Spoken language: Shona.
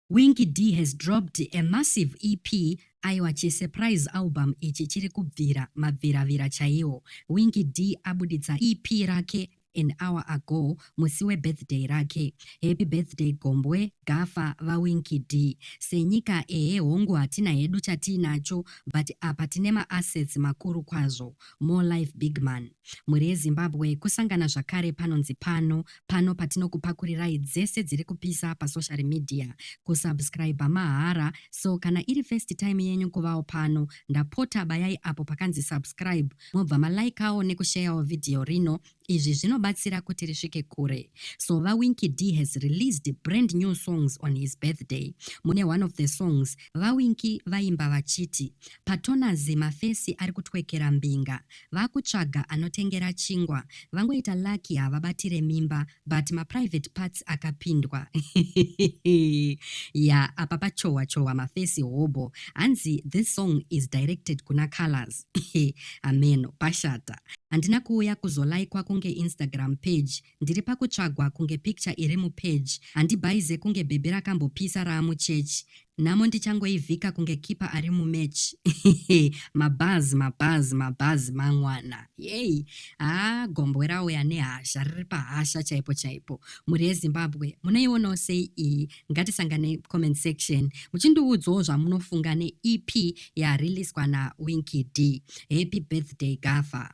Winky Dee has dropped a massive EP aiwa chi surprise album ichi chiri kubvira mabviravira chaiwo. Winky Dee abuditsa EP rake an hour ago musi webirthday rake. Happy birthday Gombwe, Gafa, vaWinky Dee. Senyika ehe hongu hatina hedu chatiinacho but apa tine maassets makuru kwazvo. More life big man. Mhuri yeZimbabwe kusangana zvakare panonzi pano pano patinokupakurirai dzese dziri kupisa pasocial media. Kusubscriber mahara so kana iri first time yenyu kuvawo pano ndapota bayai apo pakanzi subscribe mobva malikawo nekusheyawo video rino izvi zvinobatsira kuti risvike kure. So VaWinky D has released brand new songs on his birthday. Mune one of the songs VaWinky vaimba vachiti patonazi mafesi ari kutwekera mbinga Vakutsvaga anotengera chingwa. Vangoita lucky havabatire mimba but ma private parts akapindwa yeah apa pachohwa chohwa mafesi hobho hanzi this song is directed kuna colors hameno pashata. Handina kuuya kuzolaikwa kunge Instagram page Ndiri pakutsvagwa kunge picture iri mupage. Handibhaize kunge bhebhi rakambopisa raamuchurch. Nhamo ndichangoivhika kunge keeper ari mumatch. Mabars mabars mabars mangwana. Yey haa gombwe rauya nehasha riri pahasha chaipo chaipo. Mhuri yeZimbabwe munoionawo sei iyi? Ngatisangane comment section muchindiudzawo zvamunofunga neEP yariliswa naWinky Dee. Happy birthday Gafa.